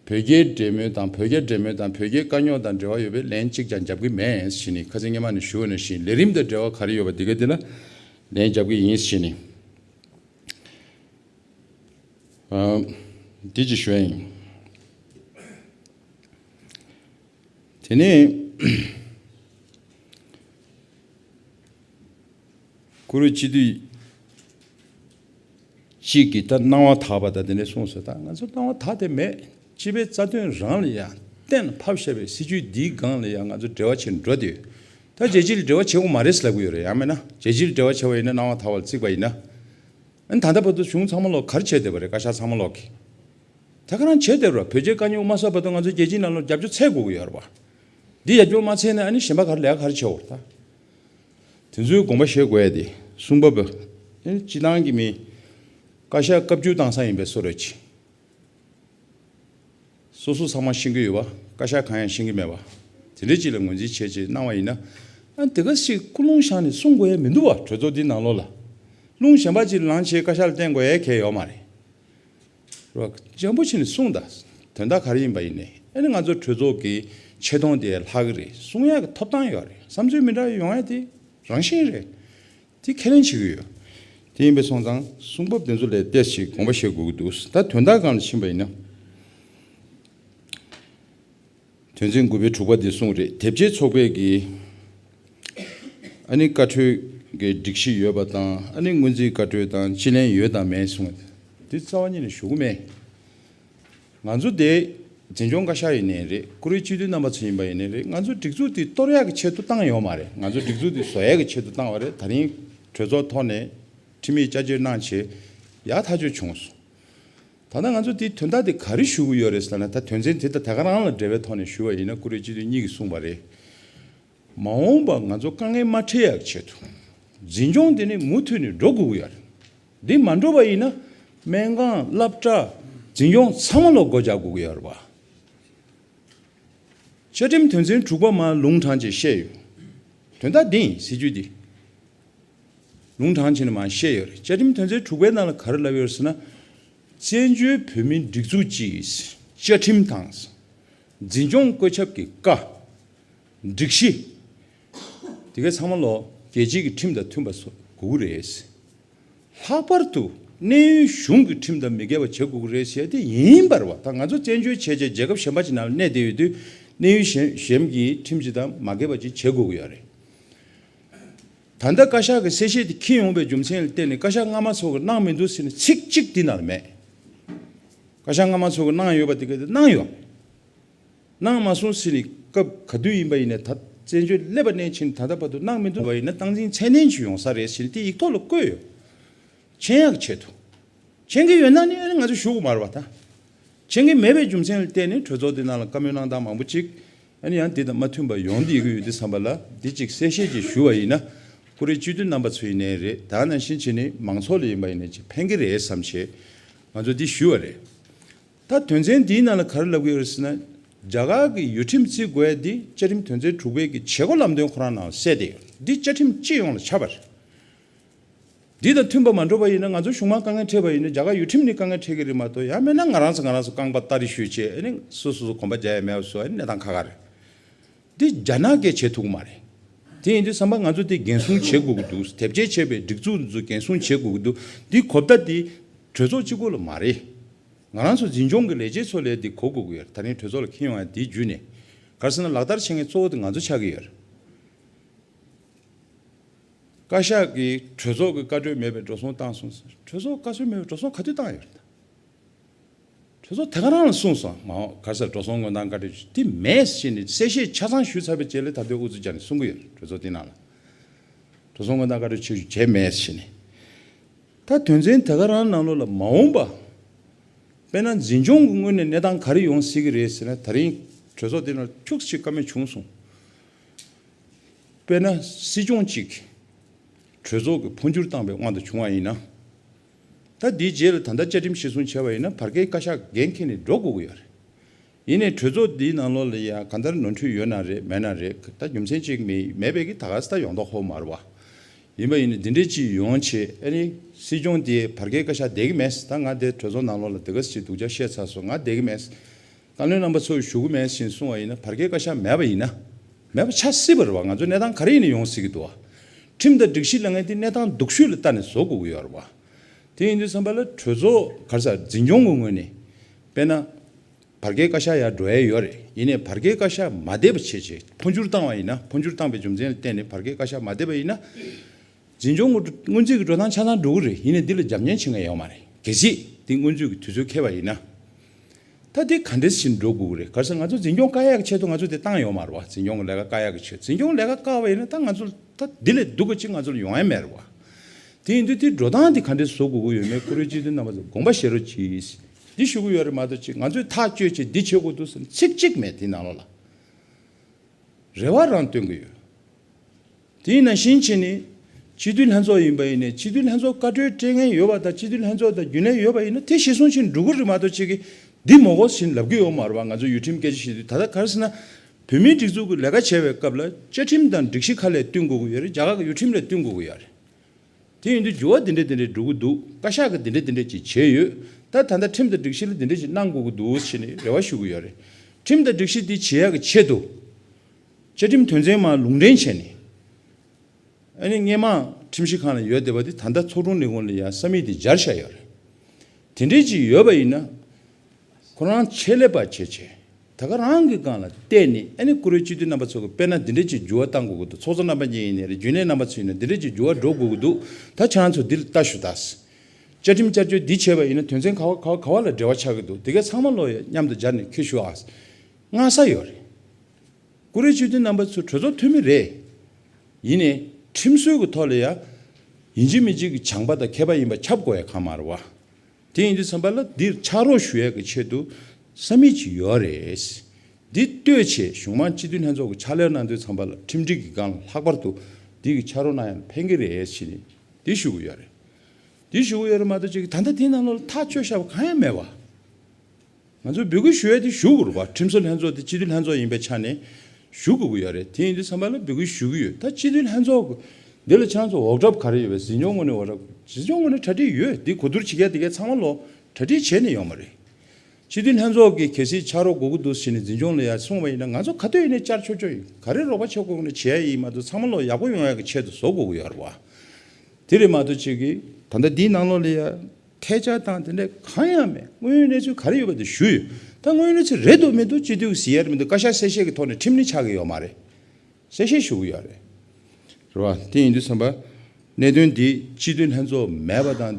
བོད་རྒྱའི་འབྲེལ་མོལ་དང་བོད་རྒྱ་འབྲེལ་མོལ་དང་བོད་རྒྱའི་དཀའ་རྙོག་དང་འབྲེལ་བ་ཡོད་པའི་ལན་གཅིག་ཀྱང་རྒྱབ་ཀྱི་མེད་ཞེས་ནི་ཁ་ཚིག་སྙན་མ་ནས་ཞུ་འོས་ན་བཞིན་ལས་རིམ་དང་འབྲེལ་བ་ག་རེ་ཡོད་པ་འདི་ག་འདི་ལ་ལན་རྒྱབ་ཀྱི་ཡིན་ཞེས་ནི། འདི་གཅིག་ཞུ་ཡ་ཡིན། དེ་ནས་གུ་རུ་སྤྱི་འདུས་གཅིག་གིས་ད་སྣང་བ་དག་པ་དང་དེ་འདྲའི་གསུངས་སོ་ད་ང་ཚོར་སྣང་བ་དག་དེ་མེད། སྤྱི་པའི་རྩ་དོན་རང་ལ་ཡང་གཏན་ཕབ་བཤད་པའི་སྲིད་བྱུས་འདིའི་སྒང་ལ་ཡང་ང་ཚོ་འབྲེལ་བ་བྱེད་འགྲོ་དེ་ཡོད། ད་རྒྱལ་སྤྱི་ལ་འབྲེལ་བ་བྱེད་དགོས་མ་རེད་ཟེར་ལབ་གི་ཡོད་རེད་ཡང་མེད་ན་རྒྱལ་སྤྱི་ལ་འབྲེལ་བ་བྱེད་པ་ཡིན་ན་སྣང་བ་དག་པ་ལ་གཙིགས་པ་ཡིན་ན། ད་ལྟ་བར་དུ་གཞུང་ཚང་མ་ལོག་གར་བྱས་སྡོད་པ་རེད་བཀའ་ཤག་ཚང་མ་ལོག་གི་ད་ག་རང་བྱས་སྡོད་ར་བོད་རྒྱའི་དཀའ་རྙོག་མ་གསབ་བར་དུ་ང་ཚོ་རྒྱལ་སྤྱིའི་ལམ་ལུགས་རྒྱབ་སྐྱོར་ཚད་དགོས་ཀྱི་ཡོད་ར་བ་འདི་ཡ་སྐྱོར་མ་ཚད་ནས་ཨ་ནི་གཞན་པ་གར་ལས་ཀ་གར་བྱས་འོར་ད་དེ་ཚོའི་དགོངས་པ་བཞེས་དགོས་ཡ་དེ་གསུང་བབ་ཨ་ནི་སྤྱི་བཏང་གི་མིན་བཀའ་ཤག་བཀའ་བརྒྱུད་བཏང་ས་ཡིན་པས་སོ་རོད་ཅིག། སོ་སོ་ཚང་མ་ཤེས་ཀྱི་ཡོད་པ་བཀའ་ཤག་གང་ཡང་ཤེས་ཀྱི་མེད་པ། དེ་འདྲའི་ཅིག་ལ་ངོས་འཛིན་བྱེད་ཅེས་གནང་བ་ཡིན་ན། དེ་ག་ཞིག་སྐུ་རླུང་ཤང་ནས་གསུང་དགོས་ཡས་མི་འདུག་བ་གྲོས་ཚོགས་འདིའི་ནང་ལོགས་ལ། རླུང་གཞན་པ་ཅིག་ལང་བྱེད་བཀའ་ཤག་ལ་བསྟན་དགོས་ཡས་ཁྱད་ཡོག་མ་རེད། རྗེན་པོ་ཆེ་ནས་གསུང་དང་དོན་དག་ག་རེ་ཡིན་པ་ཡིན་ནས་ཨེ་ནས་ང་ཚོ་གྲོས་ཚོགས་ཀྱི་ཆེ་མཐོང་དེ་ལྷག་གི་རེད་གསུང་ཡས་ཀྱི་ཐོབ་ཐང་ཡོག་རེད་བསམ་ཚུལ་མི་འདྲ་ཡོང་ཡས་དེ་རང་བཞིན་རེད། དེ་ཁས་ལེན་བྱེད་ཀྱི་ཡོད། དེ་ཡིན་པའི་སོང་ཙང་གསུང་བབ་དེ་ཚོ་ལས་གཏེར་ཞིག་དགོངས་པ་བཞེས་དགོས་ཀྱི་འདུག་ད་དོན་དག་གང་ལ་ཕྱིན་པ་ཡིན་ན། དོན་ཚན་དགུ་པའི་དྲུག་པ་དེ་གསུངས་རེད་དེབ་སྐྱེལ་ཚོགས་པས་ཀྱི་ཨ་ནི་བཀའ་འཁྲོལ་གྱི་སྒྲིག་གཞི་ཡོད་པ་དང་ཨ་ནི་སྔོན་རྩིས་བཀའ་འཁྲོལ་དང་ཅི་ལན་ཡོད་དང་མེད་གསུངས། དེ་རྩ་བ་ཉིད་ལ་ཞུ་གི་མེད། ང་ཚོ་དེ་འཛིན་སྐྱོང་བཀའ་ཤག་ཡིན་ནའི་རེད་བཀུར་འོས་སྤྱི་འཐུས་རྣམ་པ་ཚོ་ཡིན་པ་ཡིན་ནའི་རེད་ང་ཚོ་སྒྲིག་འཛུགས་དེ་གཏོར་ཡག་གི་ཆེད་དུ་བཏང་ཡོད་མ་རེད་ང་ཚོ་སྒྲིག་འཛུགས་དེ་བཟོ་ཡག་གི་ཆེད་དུ་བཏང་བ་རེད་ད་རིང་གྲོས་ཚོགས་ཐོག་ནས་ཁྲིམས་མེད་བཅའ་བཅོས་གནང་བྱས་ཡག་ཐག་ཆོད་བྱུང་སོང་ད་ལྟ་ང་ཚོ་དེ་དོན་དག་དེ་ག་རེ་ཞུ་གི་ཡོད་རེད་ཟེར་ན་ད་དོན་ཚན་དེ་ད་ད་ག་རང་ལ་འབྲེལ་བའི་ཐོག་ནས་ཞུ་བ་ཡིན་ན་བཀུར་འོས་སྤྱི་འཐུས་གཉིས་ཀྱིས་གསུངས་པ་རེད། མ་འོངས་པར་ང་ཚོ་དཀའ་ངལ་མ་འཕྲད་ཡག་ཆེད་དུ། འཛིན་སྐྱོང་དེ་ནི་མུ་མཐུད་ནས་འགྲོ་དགོས་ཀྱི་ཡོད་རེད། འདི་མ་འགྲོ་བ་ཡིན་ན། སྨན་ཁང། བསླབ་གྲྭ། འཛིན་སྐྱོང་ཚང་མ་ལ་སྒོ་རྒྱག་དགོས་ཀྱི་ཡོད་རེད། བཅའ་ཁྲིམས་དོན་ཚན་དྲུག་པ་མ་ལུང་དྲང་ཅེས་བཤད་ཡོད། དོན་དག་འདི་ཡིན་ཟེར་རྒྱུ་འདི། ལུང་དྲང་ཅེས་ནི་མ་བཤད་ཡོད་རེད། བཅའ་ཁྲིམས་དོན་ཚན་དྲུག་པའི་ནང་ལ་ག་རེ་བསླབས་ཡོད་ཟེར་ན། བཙན་བྱོལ་བོད་མིའི་སྒྲིག་འཛུགས་ཀྱིས་བཅའ་ཁྲིམས་དང། འཛིན་སྐྱོང་བཀོད་ཁྱབ་ཀྱི་བཀའ། སྒྲིག་གཞི་དེ་གའི་ཚང་མ་ལོ་བརྒྱད་ཅན་གྱི་ཁྲིམས་དང་མཐུན་པ་བཟོ་དགོས་ཀྱི་རེད། ལྷག་པར་དུ་གནས་ཡུལ་གཞུང་གི་ཁྲིམས་དང་མི་འགལ་བ་བྱེད་དགོས་ཀྱི་རེད་བཤད་དེ་ཡིན། བར་བ་དང་ང་ཚོ་བཙན་བྱོལ་བྱེད་ཆེད་རྒྱལ་ཁབ་གཞན་པ་ཅིག་ནང་གནས་བསྡད་ཡོད་དུས་གནས་ཡུལ་གཞན་གྱི་ཁྲིམས་ཅིག་དང་མ་འགལ་བ་ཅིག་བྱེད་དགོས་ཀྱི་ཡོད་རེད། ད་ལྟ་བཀའ་ཤག་གི་གསལ་བཤད་དེ་འཁྱིལ་ཡོང་བའི་རྒྱུ་མཚན་ལ་བལྟས་ནས་བཀའ་ཤག་སྔ་མ་ཚོ་གི་གནང་མི་འདུག་ཟེར་ནས་ཚིག་གཅིག་འདི་ན་ལ་མེད། བཀའ་ཤག་སྔ་མ་ཚོ་གི་གནང་ཡོད་པ་དེ་གའི་དེ་གནང་ཡོད། སྣང་མ་སོང་ཟིན་ནས་སྐབས་ག་དུས་ཡིན་པ་ཡིན་ནས་ད་བཙན་བྱོལ་སླེབས་པ་ནས་ཕྱིན་ད་ལྟ་བར་དུ་སྣང་མི་འདུག་བ་ཡིན་ན་སྟངས་འཛིན་ཚད་ལྡན་ཞིག་ཡོང་ས་རེད་ཟེར་དེ་ཡིག་ཐོག་ལ་བཀོད་ཡོད། མཆན་ཡག་ཆེད་དུ་མཆན་གྱི་ཡོད་ན་ནི་ང་ཚོ་བཞུགས་མར་བ་དང། མཆན་གྱི་མེད་པའི་རྒྱུ་མཚན་ལ་བལྟས་ནས་གྲོས་ཚོགས་འདི་ནང་ལ་བཀའ་མོལ་གནང་སྟངས་མང་པོ་ཅིག་ཡང་འདི་དང་མ་མཐུན་པ་ཡོང་དེ་གི་ཡོད་འདི་བསམ་པ་ལ་འདི་ཅིག་གསལ་བཤད་ཅིག་ཞུ་བ་ཡིན་ན་ཀུ་རེ་སྤྱི་འཐུས་རྣམ་པ་ཚོ་ཡིན་ནའི་རེད་ད་ནང་བཞིན་བྱས་ནས་མང་ཚོགས་ལ་ཡིན་པ་ཡིན་ནའི་ཅིག་ཕན་གྱི་རེད་བསམ་ཆེད་ང་ཚོ་འདི་ཞུས་བ་རེད། ད་དོན་ཚན་འདིའི་ནང་ལ་གར་ལབ་གི་ཡོད་ཟེར་ན། རྒྱ་གར་གྱི་ཡུལ་ཁྲིམས་རྩིས་དགོས་ཡ་འདི་བཅའ་ཁྲིམས་དོན་ཚན་དྲུག་པའི་གྱི་བྱེད་སྒོ་ལམ་སྟོན་ཁོ་རང་ནང་གསལ་ཏེ་ཡོད་འདི་བཅའ་ཁྲིམས་སྤྱི་ཡོངས་ལ་ཆ་བ་རེད། འདི་དང་མཐུན་པ་མ་འགྲོ་བ་ཡིན་ན་ང་ཚོ་གཞུང་མང་དཀའ་ངལ་འཕྲད་པ་ཡིན་ན་རྒྱ་གར་ཡུལ་ཁྲིམས་ནི་དཀའ་ངལ་འཕྲད་གི་རེད་མ་གཏོགས་ཡང་མེད་ན་ང་རང་ཚོ་ང་རང་ཚོ་རྐང་པ་ལྟ་རེ་ཞུས་ཆེད་ཨ་ནི་སུ་སོ་སོ་གོམ་པ་རྒྱག་ཡ་མེད་པ་སོགས་ཨ་ནི་གནས་སྟངས་ཁ་ཁ་རེད། འདི་རྒྱ་ནག་གས་བྱེད་ཐུག་མ་རེད། དེ་ཡིན་དུས་བསམ་པ་ང་ཚོ་དེ་འགན་སྲུང་བྱེད་དགོས་ཀྱི་འདུག་དེབ་སྐྱེལ་བྱས་པའི་སྒྲིག་འཛུགས་འདི་ཚོ་འགན་སྲུང་བྱེད་དགོས་ཀྱི་འདུག་འདི་གོ་བརྡ་འདི་གྲོས་ཚོགས་གཅིག་པོ་ལ་མ་རེད། ང་རང་ཚོ་འཛིན་སྐྱོང་གི་ལས་བྱེད་ཚོ་ལས་འདི་གོ་དགོས་ཀྱི་ཡོད་རེད་ད་རིང་གྲོས་ཚོགས་ལ་ཁེལ་ཡོང་ཡང་དེའི་བརྒྱུད་ནས་གར་སོང་ན་ལག་བསྟར་བྱེད་མཁན་གཙོ་བོ་དེ་ང་ཚོ་ཆགས་ཀྱི་ཡོད་རེད། བཀའ་ཤག་གིས་གྲོས་ཚོགས་ཀྱི་བཀའ་འཁྲོལ་མེད་པའི་འགྲོ་སོང་བཏང་སོང་ཟེར་གྲོས་ཚོགས་བཀའ་སྲོལ་མེད་པའི་འགྲོ་སོང་ག་དུས་བཏང་ཡོད་རེད་ད། གྲོས་ཚོགས་དེ་ག་རང་ལ་གསུངས་སོང་མ་འོངས་གར་སར་འགྲོ་སོང་དངོས་དང་འགའ་འབྲེལ་ཞུ་ཐེབས་མེད་ཞེས་ནས་གསལ་བཤད་ཆ་ཚང་ཞུས་ཚར་བའི་རྗེས་ལས་ཐར་ལྟའི་འུ་ཚོས་ཀྱང་ནས་གསུང་གི་ཡོད་རེད་གྲོས་ཚོགས་དེའི་ནང་ལ་འགྲོ་སོང་དངོས་དང་འགའ་འབྲེལ་ཆོས་ཞུ་བྱས་མེད་ཞེས་ནས། ད་དོན་ཚན་དེ་ག་རང་ནང་ལོགས་ལ་མ་འོངས་པ་དཔེར་ན་འཛིན་སྐྱོང་གི་ངོས་ནས་གནས་སྟངས་ག་རེ་ཡོང་སྲིད་ཀྱི་རེད་ཟེར་ན་ད་རིང་གྲོས་ཚོགས་དེ་ནང་ལ་ཁྱུགས་ཤིག་ཀ་མེད་བྱུང་སོང། དཔེར་ན་སྲིད་སྐྱོང་གཅིག་གྲོས་ཚོགས་ཀྱི་འཕོ་འགྱུར་བཏང་པའི་དབང་དུ་བྱུང་བ་ཡིན་ན། ད་འདིའི་རྗེས་ལ་ད་ལྟ་བཅའ་ཁྲིམས་གཞིར་བཟུང་བྱས་པ་ཡིན་ན་བར་བརྒལ་བཀའ་ཤག་འགན་འཁྱེར་ནས་འགྲོ་དགོས་ཀྱི་ཡོད་རེད། ཡིན་ནས་གྲོས་ཚོགས་འདིའི་ནང་ལོགས་ལ་ཡང་གང་ལྟར་ནོར་འཁྲུལ་ཡོད་ན་རེད་མེད་ན་རེད་ད་རྒྱུ་མཚན་གཅིག་མེད་པས་ཀྱི་ད་ག་ས་ད་ཡོང་ཐོག་ཧོ་མར་བ་ཡིན་པ་ཡིན་ན་འདི་འདྲའི་ཅི་ཡོང་ཆེད་ཨ་ནི་སྲིད་སྐྱོང་དེས་བར་བརྒལ་བཀའ་ཤག་བསྡད་ཀྱི་མེད་ད་ང་དེ་གྲོས་ཚོགས་ནང་ལོགས་ལ་དེ་ག་ས་ཅིག་འདུག་ཆ་ཤས་ཚ་སོང་ང་བསྡད་ཀྱི་མེད། བཀའ་བློན་རྣམ་པ་ཚོས་ཞུ་གུ་མེད་བཞིན་གསུང་བ་ཡིན་ན་བར་བརྒལ་བཀའ་ཤག་མེད་པ་ཡིན་ན། མེད་པ་ཆགས་སྲིད་པ་རེད་བ་ང་ཚོའི་གནས་སྟངས་ག་རེ་ཡིན་ནས་ཡོང་སྲིད་ཀྱི་འདུག་བ། ཁྲིམས་དང་སྒྲིག་གཞི་གླེང་མཁན་དེ་གནས་སྟངས་སྡུག་ཤོས་ལ་ལྟ་ནས་བཟོ་དགོས་ཀྱི་ཡོད་རེད་བ། དེ་ཡིན་དུས་བསམ་པ་ལ་གྲོས་ཚོགས་ག་རེ་ས་འཛིན་སྐྱོང་གི་ངོས་ནས་དཔེར་ན། བར་བརྒལ་བཀའ་ཤག་ཡར་འགྲོ་ཡས་ཡོད་རེད་ཡིན་ནས་བར་བརྒལ་བཀའ་ཤག་མ་བསྡད་པ་བྱས་རྗེས་འཕོ་འགྱུར་བཏང་བ་ཡིན་ན་འཕོ་འགྱུར་བཏང་པའི་རྒྱུ་མཚན་ལ་བརྟེན་ནས་བར་བརྒལ་བཀའ་ཤག་མ་བསྡད་པ་ཡིན་ན། འཛིན་སྐྱོང་སྔོན་རྩིས་ཀྱི་འགྲོ་སྟངས་ཆ་ཚང་འགྲོ་གི་རེད་ཡིན་ནས་འདི་ལ་རྒྱབ་གཉེར་བྱེད་མཁན་ཡོད་མ་རེད་གལ་སྲིད་འདི་སྔོན་རྩིས་ཀྱི་དུས་ཚོད་ཁེལ་བ་ཡིན་ན། ད་འདི་ག་འདྲི་བཞིན་འགྲོ་དགོས་ཀྱི་རེད་གལ་སྲིད་ང་ཚོ་འཛིན་སྐྱོང་བཀའ་ཡག་གི་ཆེད་དུ་ང་ཚོ་འདི་བཏང་ཡོད་མ་རེད་བ་འཛིན་སྐྱོང་གི་ལས་ཀ་བཀའ་ཡག་གི་ཆེད་འཛིན་སྐྱོང་ལས་ཀ་བཀའ་བ་ཡིན་ན་ད་ང་ཚོ་ད་འདི་ལས་སྡུག་གི་ཅི་ང་ཚོ་ལ་ཡོང་ཡ་མེད་རེད་བ། དེ་ཡིན་དུས་འདི་འགྲོ་སྟངས་འདི་ག་འདྲི་བཟོ་དགོས་ཀྱི་ཡོད་མེད་ཁོ་རེའི་སྤྱི་འཐུས་རྣམ་པ་ཚོས་དགོངས་པ་བཞེས་རོགས་གྱིས། འདི་ཞུ་གི་ཡོད་རེད་མ་གཏོགས་ཅི་ང་ཚོས་ཐག་གཅོད་ཆེད་འདི་བྱེད་དགོས་འདུག་ཟེར་ནས་ཚིག་གཅིག་མེད་འདི་ནང་ལོགས་ལ་རེ་བ་རང་སྟོན་གྱི་ཡོད། དེས་ན་ཞིང་ཆེན་ནི་སྤྱི་འཐུས་ལྷན་ཚོགས་ཡིན་པ་ཡིན་ནས་སྤྱི་འཐུས་ལྷན་ཚོགས་བཀའ་ཁྲོལ་སྤྲད་མཁན་ཡོད་པ་དང་སྤྱི་འཐུས་ལྷན་ཚོགས་དང་རྒྱུན་ལས་ཡོད་པ་ཡིན་ན་དེ་གཞི་སྲུང་ཕྱིར་འབྲུག་གུ་རི་མ་གཏོ་ཆེ་གི་འདི་མོ་གོ་ཟིན་ལབ་གི་ཡོད་མ་རུ་བ་ང་ཚོ་ཡུལ་ཁྲིམས་སྐད་ཆ་བཤད་དུས་ད་ལྟ་གར་སི་ན་བོད་མིའི་སྒྲིག་འཛུགས་ཀི་ལས་ཀ་བྱེད་པའི་སྐབས་ལ་བཅའ་ཁྲིམས་དང་སྒྲིག་གཞི་ཁ་ལས་བསྟུན་དགོས་གི་ཡོད་རེད་རྒྱ་གར་གི་ཡུལ་ཁྲིམས་ལས་བསྟུན་དགོས་གི་ཡ་རེད་དེ་ཡིན་དུས་འགྱུར་བ་འདི་འདྲ་འདི་འདྲ་འགྲོ་གི་འདུག་བཀའ་ཤག་གི་འདི་འདྲ་འདི་འདྲ་ཅིག་བྱས་ཡོད་ད་ད་ལྟ་ཁྲིམས་དང་སྒྲིག་གཞི་ལ་འདི་འདྲ་ཅིག་གནང་དགོས་གི་འདུག་ཟེར་ནས་རེ་བ་ཞུ་གི་ཡོད་རེད་ཁྲིམས་དང་སྒྲིག་གཞི་འདི་བྱེད་ཡ་གི་ཆེད་དུ། བཅའ་ཁྲིམས་དོན་ཚན་མང་ལུང་འདྲེན་བྱས་ནས། ཨ་ནེ་སྔས་མང་ཁྲིམས་ཞིབ་ཁང་ལ་ཡོད་བསྡད་པ་དེ་ད་ལྟ་ཚོགས་དྲུང་ལས་ཁུངས་ལ་ཡང་ས་མིག་དེ་སྦྱར་བཞག་ཡོད་རེད། དེ་འདྲས་ཅིག་ཡོད་པ་ཡིན་ན། ཁོ་རང་ཆེད་ལས་པ་བྱས་བྱས་ད་ག་རང་གི་རྐང་ལ་བལྟས་ནས་ཨ་ནེ་བཀུར་འོས་སྤྱི་འཐུས་རྣམ་པ་ཚོ་གི་དཔེར་ན་འདི་འདྲས་ཅིག་འགྱུར་བ་བཏང་དགོས་ཀྱི་འདུག་ཚོགས་གཙོ་རྣམ་པ་གཉིས་ཡིན་ནས་རེད་རྒྱུན་ལས་རྣམ་པ་ཚོ་ཡིན་ན་འདི་འདྲས་ཅིག་འགྱུར་བ་འགྲོ་དགོས་ཀྱི་འདུག་ད་ཁྱེད་རང་ཚོ་འདིར་ལྟ་ཞུ་དྭགས། བཅའ་ཁྲིམས་བསྐྱར་བཅོས་འདི་བྱས་པ་ཡིན་ན་དོན་ཚན་ག་བ་ག་བ་ག་བ་ལ་འབྲེལ་བ་ཆགས་ཀྱི་འདུག་དེ་གས་ཚང་མ་བློ་ཡོད་མཉམ་དུ་སྦྱར་ནས་ཁྱེར་ཞུ་དྭགས། སྔ་ས་ཡོད་རེད། ཀུ་རེ་ཆོས་སྡེ་རྣམ་པ་ཚོ་གྲོས་ཚོགས་འཐུས་མི་རེད། ཡིན་ནས་ཁྲིམས་སྲོལ་གྱི་ཐོག་ལ་ཡ། ཡིན་གཅིག་མིན་གཅིག་གི་བྱང་པ་དང་མཁས་པ་ཡིན་པ་ཁྱབ་དགོས་ཡ་གང་མ་རུ་བ། དེ་ཡིན་དུས་ཚང་པ་ལ་འདིར་ཕྱག་རོགས་ཞུ་ཡ་གི་ཆེད་དུ་ས་མིག་ཅིག་ཡོད་རེད། འདི་ལྟོས་ཆེད་གཞུང་མང་སྤྱི་འཐུས་ལྷན་ཚོགས་ཀྱི་ཕྱག་ལས་གནང་དུས་ཚང་པ་ལ་ཁྲིམས་སྒྲིག་གི་སྒང་ལ་ལྷག་པར་དུ་འདི་གི་ཕྱག་རོགས་གནང་ཡ་ལ་ཕན་གི་རེད་ཕྱིན་ནས་འདི་ཞུ་གི་ཡོད་རེད། འདི་ཞུ་གི་ཡོད་རེད་མ་གཏོགས་ཅིག་ད་ལྟ་དེ་ནང་ལོགས་ལ་ཐག་གཅོད་བྱ་བ་གང་ཡང་མེད་བ། ང་ཚོས་འབོད་སྐུལ་ཞུ་ཡ་དེ་ཞུ་དགོས་རུང་བར་ཁྲིམས་བཟོ་ལྷན་ཚོགས་དེ་སྤྱི་འཐུས་ལྷན་ཚོགས་ཡིན་པའི་ཆ་ནས་ཞུ་དགོས་ཀྱི་ཡོད་རེད་དེ་ཡིན་དུས་ཚང་མ་ལ་འབོད་སྐུལ་ཞུ་གི་ཡོད་ད་སྤྱི་འཐུས་ལྷན་ཚོགས་ཀྱི་འདི་ལ་ཆ་ཚང་འོག་གྲབས་ག་རེ་ཡོད་པའི་ཟིན་སྐྱོང་ངོས་ནས་འོག་གྲབས་ཟིན་སྐྱོང་ངོས་ནས་གྲ་སྒྲིག་ཡོད་འདི་གོ་བསྡུར་བྱེད་མཁན་དེ་གས་ཚང་མ་ལོ་གྲ་སྒྲིག་བྱས་ནས་ཡོང་བ་རེད་སྤྱི་འཐུས་ལྷན་ཚོགས་ཀྱི་གལ་སྲིད་ཕྱག་རོགས་དགོས་ཀྱི་འདུག་ཟེར་ནས་ཟིན་སྐྱོང་ལ་ཡ་གསུངས་བ་ཡིན་ན་ང་ཚོ་ག་ལྟོས་ཡིན་ནས་བཅར་ཆོག་ཆོག་ཡིན་ག་རེ་རོགས་པ་བྱེད་དགོས་ནི་བྱེད་ཡ་ཡིན་མ་གཏོགས་ཚང་མ་ལོ་ཡག་པོ་ཡོང་ཡ་གི་ཆེད་དུ་བཟོ་དགོས་ཀྱི་ཡོད་རེད་བ་དེ་རེད་མ་གཏོགས་ཅིག་གིས། ད་ལྟ་འདིའི་ནང་ལོགས་ལ་ཡ། ཐལ་ཆ་དང་དེ་འདྲ་གང་ཡང་མེད་དངོས་ཡོད་གནས་ཚུལ་ག་རེ་ཡོད་པ་དེ་ཞུ། ད་དངོས་ཡོད་གནས་ཚུལ་རེད་འདུག་མི་འདུག་སྤྱི་འཐུས་ཟེར་ཡས་མི་འདུག་བཀའ་ཤག་གསལ་བཤད་ཀྱི་ཐོག་ནས་ཁྲིམས་ནི་ཆགས་ཀྱི་ཡོད་མ་རེད། གསལ་བཤད་ཞུ་གི་ཡོད་རེད། རེད་བ། དེ་ཡིན་དུས་བསམ་པ། གནད་དོན་འདི་སྤྱི་འཐུས་ལྷན་ཚོགས་མེད་པ་དང།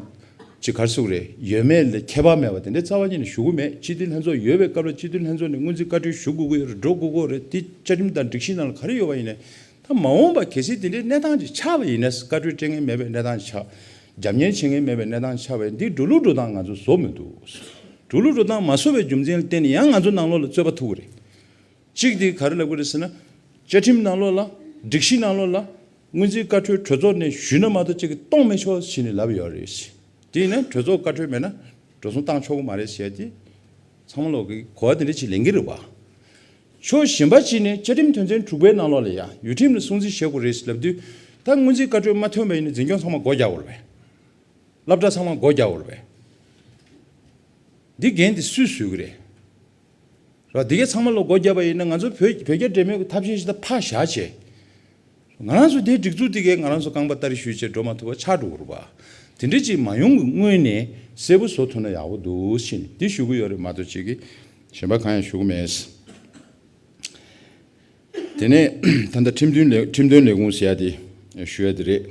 ཅི་གར་སུག་རེད་ཡོད་མེད་ལ་ཁྱད་པར་མེད་པ་དེ་འདྲ་རྩ་བ་ཉིད་ནས་ཞུ་གི་མེད་སྤྱི་འཐུས་ལྷན་ཚོགས་ཡོད་པའི་སྐབས་ལ་སྤྱི་འཐུས་ལྷན་ཚོགས་ནས་སྔོན་རྩིས་བཀའ་འཁྲོལ་ཞུ་དགོས་ཀྱི་ཡོད་རེད་འགྲོ་དགོས་ཀྱི་རེད་འདི་བཅའ་ཁྲིམས་དང་སྒྲིག་གཞི་ནང་ལ་ག་རེ་ཡོད་པ་ཡིན་ནས། ད་མ་འོངས་པ་གལ་སྲིད་དེ་འདྲའི་གནས་སྟངས་ཅིག་ཆགས་པ་ཡིན་ན་བཀའ་ཁྲོལ་སྤྲད་ངེས་མེད་པའི་གནས་སྟངས་ཆགས། རྒྱབ་གཉེར་བྱེད་ངེས་མེད་པའི་གནས་སྟངས་ཆགས་བས་འདི་འགྲོ་ལུགས་འགྲོ་སྟངས་ང་ཚོ་བཟོ་མི་འདུག། འགྲོ་ལུགས་འགྲོ་སྟངས་མ་བཟོ་བའི་རྒྱུ་མཚན་གཏན་ནས་ཡང་ང་ཚོ་ནང་ལོགས་ལ་རྩོད་པ་ཐུག་གི་རེད། གཅིག་དེ་ག་རེ་ལབ་གི་རེད་ཟེར་ན། བཅའ་ཁྲིམས་ནང་ལོགས་ལ། སྒྲིག་གཞི་ནང་ལོགས་ལ། སྔོན་རྩིས་བཀའ་ཁྲོལ་གྲོས་ཚོགས་ནས་ཞུས་ན་མ་གཏོགས་གཅིག་གིས་གཏོང་མི་ཆོག་ཟེར་ནས་ལབ་ཡོད་རེད། དེ་ཡིན་ན་གྲོས་ཚོགས་བཀའ་ཁྲོལ་མེད་ན། འགྲོ་སོང་བཏང་ཆོག་གི་མ་རེད་ཟེར་ཏེ། ཚང་མ་ལོག་གི་གོ་བ་དེ་འདྲ་ཅིག་ལེན་གི་རེད་བ། ཕྱོགས་གཞན་པ་གཅིག་ནས་བཅའ་ཁྲིམས་དོན་ཚན་དྲུག་པའི་ནང་ལོགས་ལས་ཡང་ཡུལ་ཁྲིམས་ལ་སྲུང་བརྩི་བྱེད་དགོས་རེད་ལབ་དུས། ད་སྔོན་རྩིས་བཀའ་གྲོས་མ་ཐོན་པ་ཡིན་ན་འཛིན་སྐྱོང་ཚང་མ་སྒོ་རྒྱག་འོར་བས། སླབ་གྲྭ་ཚང་མ་སྒོ་རྒྱག་འོར་བས། འདི་འགན་དེ་སུས་བཟོས་གི་རེད། ར་འདི་གས་ཚང་མ་ལོགས་སྒོ་རྒྱབ་པ་ཡིན་ན་ང་ཚོ་བོད་བོད་རྒྱ་འབྲེལ་མོལ་གི་ཐབས་ཤེས་ཤིག་ད་ཕ་བཞག་བྱས། ང་རང་ཚོ་དེའི་སྒྲིག་འཛུགས་དེ་གས་ང་རང་ཚོ་རྐང་པ་ལྟ་རེ་ཞུས་རྗེས་འགྲོ་མ་ཐུབ་པར་ཆགས་འགྲོ་གི་རུ་བ། དེ་འདྲའི་ཅིག་མ་ཡོང་གི་སྔོན་ནས་གསལ་པོ་བཟོ་ཐུབ་ན་ཡག་པོ་འདུག་ཕྱིན་འདི་ཞུ་གི་ཡོད་རེད་མ་གཏོགས་ཅིག་གཞན་པ་གང་ཡང་ཞུ་གི་མེད། དེ་ནས་ད་ལྟ་ཁྲིམས་དོན་ལས་ཁྲིམས་དོན་ལས་ཁུངས་ཟེར་ཡ་དེ་ཞུ་ཡ་དེ་རེད།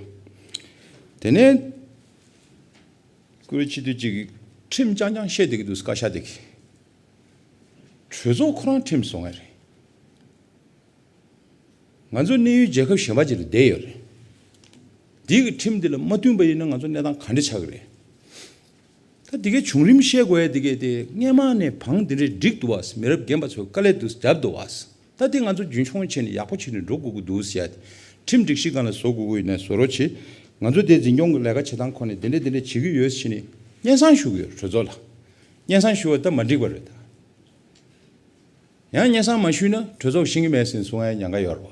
དེ་ནས་ཁོའི་ཕྱི་དོན་ཅིག་གིས་ཁྲིམས་རྐྱང་རྐྱང་བཤད་བསྡད་ཀྱི་འདུག་བཀའ་ཤག་དེ་གས། གྲོས་ཚོགས་ཁོ་རང་ཁྲིམས་བཟོ་ངེས་རེད། ང་ཚོ་གནས་ཡུལ་རྒྱལ་ཁབ་གཞན་པ་ཅིག་ལ་བསྡད་ཡོད་རེད། འདི་གི་ཁྲིམས་འདི་ལ་མ་བསྟུན་པ་ཡིན་ན་ང་ཚོ་གནས་སྟངས་ག་འདྲ་ཆགས་ཀྱི་རེད། ད་འདི་གའི་བྱུང་རིམ་བཤད་དགོས་ཡ་འདི་གའི་དེ་སྔས་མ་ནས་བང་འདི་འདྲའི་འགྲིག་འདུག་བ་མི་རབས་རྒན་པ་ཚོས་དཀའ་ལས་འདུག་རྒྱབ་འདུག་བ་ད་འདི་ང་ཚོ་རྒྱུན་འཁྱོངས་བྱས་ནས་ཡག་པོ་བྱས་ནས་འགྲོ་དགོས་ཀྱི་འདུག་ཡ་འདི་ཁྲིམས་སྒྲིག་གཞི་གང་ལ་བཟོ་དགོས་ཀྱི་ཡོད་ན་བཟོ་རོགས་གྱིས་ང་ཚོ་འདི་འཛིན་སྐྱོང་གི་ལས་ཀ་བྱེད་སྟངས་ཁོ་ནས་འདི་འདྲ་འདི་འདྲ་བྱེད་ཀྱི་ཡོད་བྱས་ནས་སྙན་སང་ཞུ་གི་ཡོད་རེད་གྲོས་ཚོགས་ལ་སྙན་སང་ཞུ་བ་ད་མ་འགྲིག་པ་རེད་ད། ཡང་སྙན་སང་མ་ཞུས་ན་གྲོས་ཚོགས་ཤིང་གི་མེད་སིན་སུང་ཨའི་ཉང་ག་ཡོར་བ།